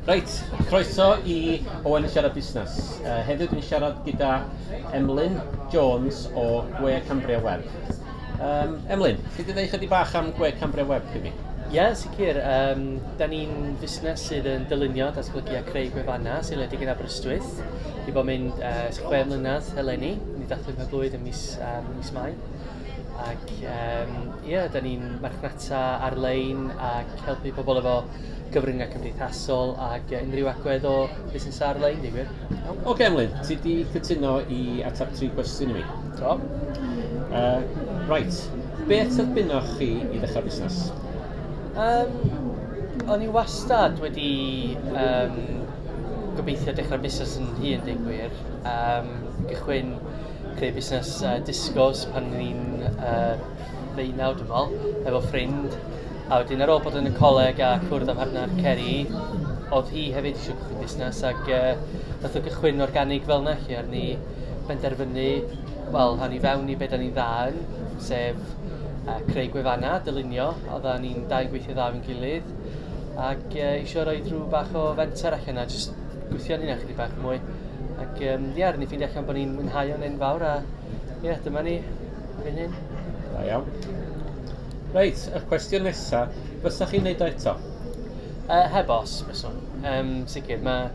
Reit, croeso i Owen yn siarad busnes. Uh, heddiw dwi'n siarad gyda Emlyn Jones o Gwe Cambria Web. Um, Emlyn, chi wedi dweud chydig bach am Gwe Cambria Web i mi? Ie, yeah, sicr. Um, da ni'n fusnes sydd yn dylunio, datblygu a creu gwefannau sy'n ledig yn Aberystwyth. Di bod mynd uh, chwe mlynedd eleni, ni dathlu'n hyflwydd yn mis, um, mis Mai. ac yym ie 'dan ni'n marchnata ar-lein ac helpu pobl efo cyfryngau cymdeithasol ac yy unrhyw agwedd o fusnesau ar-lein deud gwir. Iawn. Ocê Emlyn, ti 'di cytuno i ateb tri cwestiwn i mi. Do. Yy reit, beth terfynoch chi i ddechrau busnes? Yym o'n i wastad wedi yym gobeithio dechrau busnes yn hun deud gwir yym cychwyn creu busnes uh, discos pan ni'n uh, ddeunaw, dwi'n meddwl, efo ffrind. A wedyn ar ôl bod yn y coleg a cwrdd â partner Ceri, oedd hi hefyd eisiau cychwyn busnes ac uh, nath o gychwyn organig fel yna lle ar ni benderfynu, wel, rhan i fewn i beth da ni'n dda yn, sef uh, creu gwefannau, dylunio, a da ni'n dau yn gweithio dda fi'n gilydd ac uh, eisiau rhoi rhyw bach o fenter allan a just gweithio yn hynna chydig bach mwy. Ac um, ie, yeah, rydyn ni ffeindio allan bod ni'n mwynhau o'n enfawr a ie, yeah, dyma ni, fy hyn. Da iawn. Reit, y cwestiwn nesaf, fysa chi'n neud o eto? Uh, heb os, fyswn. Um, sicr, mae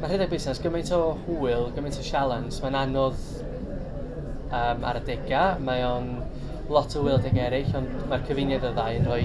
ma rhedeg busnes gymaint o hwyl, gymaint o sialens, mae'n anodd um, ar y degau, mae o'n lot o hwyl adegau eraill, ond mae'r cyfuniad o ddau yn rhoi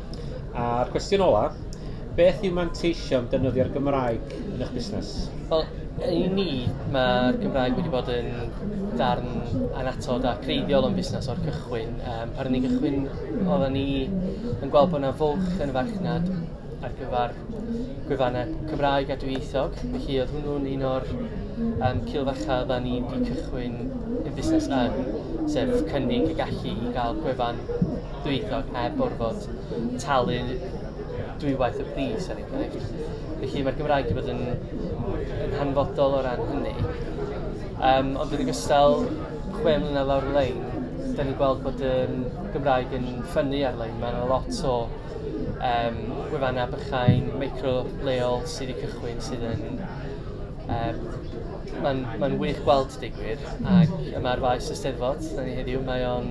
A'r cwestiwn ola, beth yw manteision defnyddio'r Gymraeg yn eich busnes? Wel, i ni, mae'r Gymraeg wedi bod yn darn anatod a creiddiol o'n busnes o'r cychwyn. Um, pan ni'n cychwyn, oedden ni yn gweld bod yna fwlch yn y farchnad ar gyfer gwefannau Cymraeg a dwyieithog. Felly oedd hwnnw'n un o'r um, cilfacha oedden ni wedi cychwyn y busnes yn, sef cynnig y gallu i gael gwefan dwyieithog heb orfod talu dwywaith y pris er enghraifft. Felly mae'r Gymraeg wedi bod yn, yn hanfodol o ran hynny. Um, ond yn ogystal, chwe mlynedd lawr y lein, da ni'n gweld bod y um, Gymraeg yn ffynnu ar-lein. Mae yna lot o um, gwefannau bychain, micro leol sydd wedi cychwyn sydd yn Um, Mae'n ma wych gweld digwyr ac yma'r faes y Steddfod, da ni heddiw, mae o'n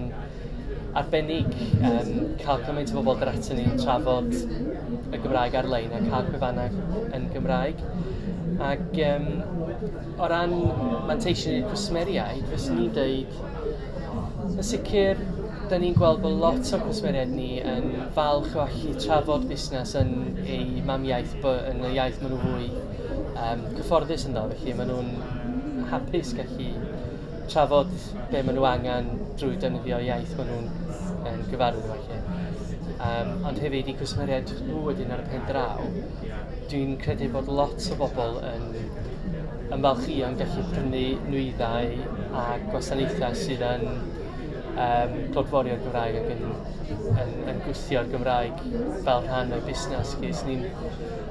arbennig yym cael cymaint o bobl dod atyn ni i trafod y Gymraeg ar-lein a cael gwefannau yn Gymraeg. Ac yym, o ran manteision i'r cwsmeriaid, fyswn i'n deud, yn sicr, da ni'n gweld bod lot o'r cwsmeriaid ni yn falch o allu trafod busnes yn eu mamiaith, yn y iaith maen nhw fwy um, cyfforddus ynddo, felly maen nhw'n hapus gallu trafod be maen nhw angen drwy defnyddio'r iaith maen nhw'n um, gyfarwydd efo lle. Um, ond hefyd i gwsmeriaid nhw wedyn ar y pen draw, dwi'n credu bod lot o bobl yn ymfalchio yn gallu prynu nwyddau a gwasanaethau sydd yn um, clodforio'r Gymraeg ac yn, yn, yn gwthio'r Gymraeg fel rhan o'r busnes. Ges ni'n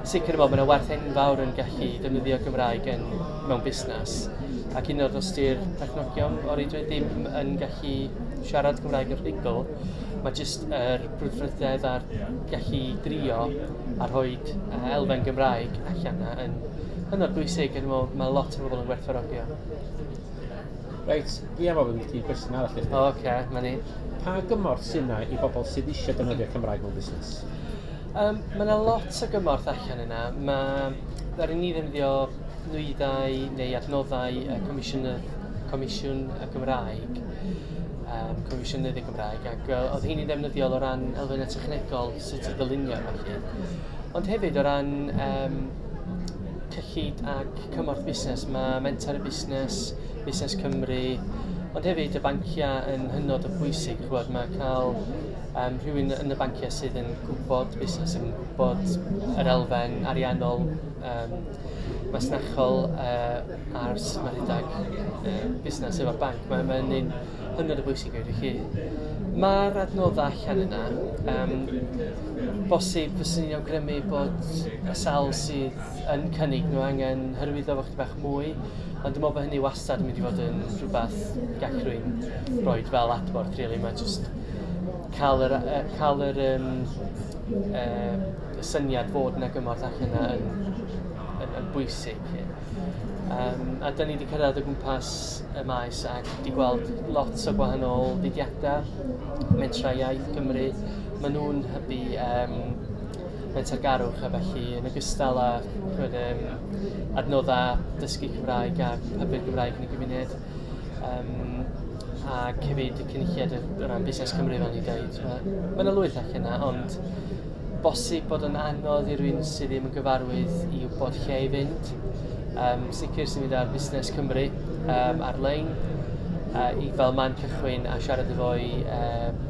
Sicr dwi'n meddwl bod yna werth enfawr yn gallu defnyddio Cymraeg yn, mewn busnes. Ac hyd yn oed os di'r perchnogion o reidrwydd ddim yn gallu siarad Cymraeg yn rhugl, mae jyst yr er brwdfrydedd a'r gallu drio a rhoi uh, elfen Gymraeg allan yna yn hynod bwysig. Dwi'n meddwl mae lot o bobl yn gwerthfawrogio. Reit, fi am ofyn i ti gwestiwn arall i chdi. O, oce, okay, mae ni. Pa gymorth sy'n yna i bobl sydd eisiau defnyddio Cymraeg mewn busnes? Yym, mae 'na lot o gymorth allan yna. Mae... ddaru ni ddefnyddio nwyddau neu adnoddau y Comisiwn y... Comisiwn y Gymraeg, yym Comisiynydd y Gymraeg, ac yy oedd rheini'n ddefnyddiol o ran elfennau technegol, sut i ddylunio a ballu. Ond hefyd o ran yym cyllid ac cymorth busnes, mae Mentor a Busnes, Busnes Cymru, ond hefyd y banciau yn hynod o bwysig, chimod, mae cael um, rhywun yn y banciau sydd yn gwybod busnes, sy'n gwybod yr elfen ariannol, um, masnachol uh, a'r sut mae rhedeg uh, busnes efo'r banc. Mae'n mae un hynod o bwysig i chi. Mae'r adnoddau allan yna. Um, bosib fyswn i'n awgrymu bod y sal sydd yn cynnig nhw angen hyrwyddo fo chdi bach mwy, ond dwi'n meddwl bod hynny wastad yn mynd i fod yn rhywbeth gallwn rhoi fel adborth, really. Mae just cael yr yy cael yr yym yym y syniad fod 'na gymorth allan 'na yn yn yn bwysig 'lly. Yym a 'dan ni 'di cyrraedd o gwmpas y maes ac 'di gweld lot o gwahanol fudiadau, mentrau iaith Cymru, maen nhw'n hybu yym mentargarwch a felly yn ogystal â chimod yym adnoddau dysgu Cymraeg a hybu'r Gymraeg yn y gymuned. Yym ac hefyd y cynulliad o o ran busnes Cymru fel o'n i'n deud. Mae mae 'na lwyth allan 'na ond bosib bod o'n anodd i rywun sydd ddim yn gyfarwydd i wybod lle i fynd. Yym sicr os ti'n mynd ar Fusnes Cymru yym ar-lein yy i fel man cychwyn a siarad efo i yym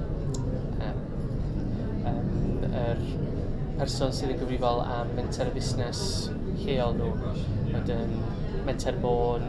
yym yym yr person sydd yn gyfrifol am menter y busnes lleol nhw. Wedyn Menter Môn.